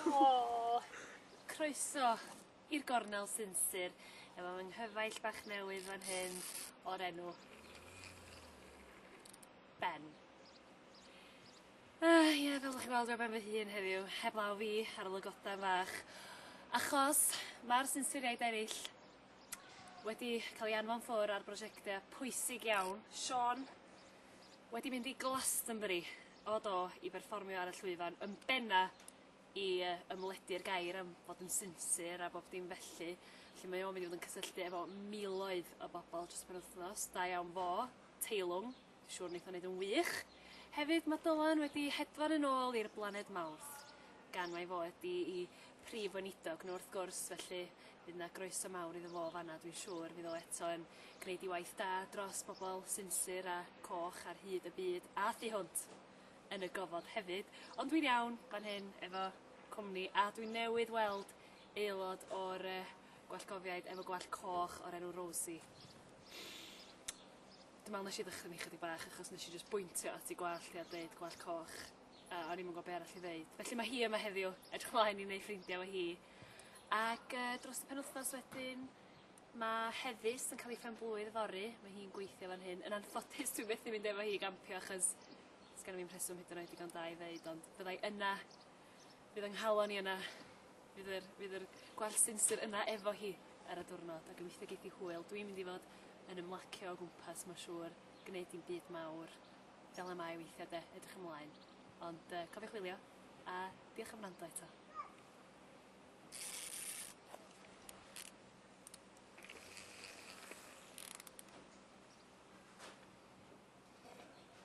O! Croeso i'r gornel sinsir efo fy nghyfaill bach newydd fan hyn o'r enw Ben. Ah, ie, yeah, fel ydych chi'n gweld, ben fy hun heddiw, heb law fi ar y lygoden fach. Achos mae'r sinsiriaid eraill wedi cael ei anfon ffwr ar brosiectau pwysig iawn. Sean, wedi mynd i Glastonbury, o do, i berfformio ar y llwyfan yn benna i yy ymledu'r gair am fod yn sinsir a bob dim felly felly mae o'n mynd i fod yn cysylltu efo miloedd o bobol dros y penwthnos, da iawn fo, teilwng, dwi siŵr neith o neud yn wych. Hefyd ma' Dylan wedi hedfan yn ôl i'r blaned Mawrth gan mai fo ydi i prif weinidog nhw wrth gwrs felly bydd 'na groeso mawr iddo fo fanna dwi'n siŵr fydd o eto yn gneud ei waith da dros bobol sinsir a coch ar hyd y byd a thu hwnt yn y gofod hefyd ond dwi'n iawn fan hyn efo cwmni a dwi newydd weld aelod o'r yy gwallgofiaid efo gwallt coch o'r enw Rosie. Dwi me'wl nesh i ddychryn 'i chydig bach achos nesh i jyst bwyntio at 'i gwallt hi a deud gwallt coch. A o'n i'm yn gwbo be' arall i ddeud. Felly ma' hi yma heddiw. Edrych mlaen i neu' ffrindia 'fo hi. Ac yy dros y penwthnos wedyn ma' Heddys yn ca'l 'i phen-blwydd yfory ma' hi'n gweithio fan hyn yn anffodus dwi methu mynd efo hi i gampio achos sgenno fi'm rheswm hyd yn oed digon da i ddeud ond fyddai yna fydd yng nghalon i yna fydd yr fydd yr gwell sinsir yna efo hi ar y diwrnod a gobeithio geith 'i hwyl dwi'n mynd i fod yn ymlacio o gwmpas ma' siŵr gneud dim byd mawr fel y mae weithia de, edrych ymlaen. Ond yy cofiwch wylio a diolch am wrando eto.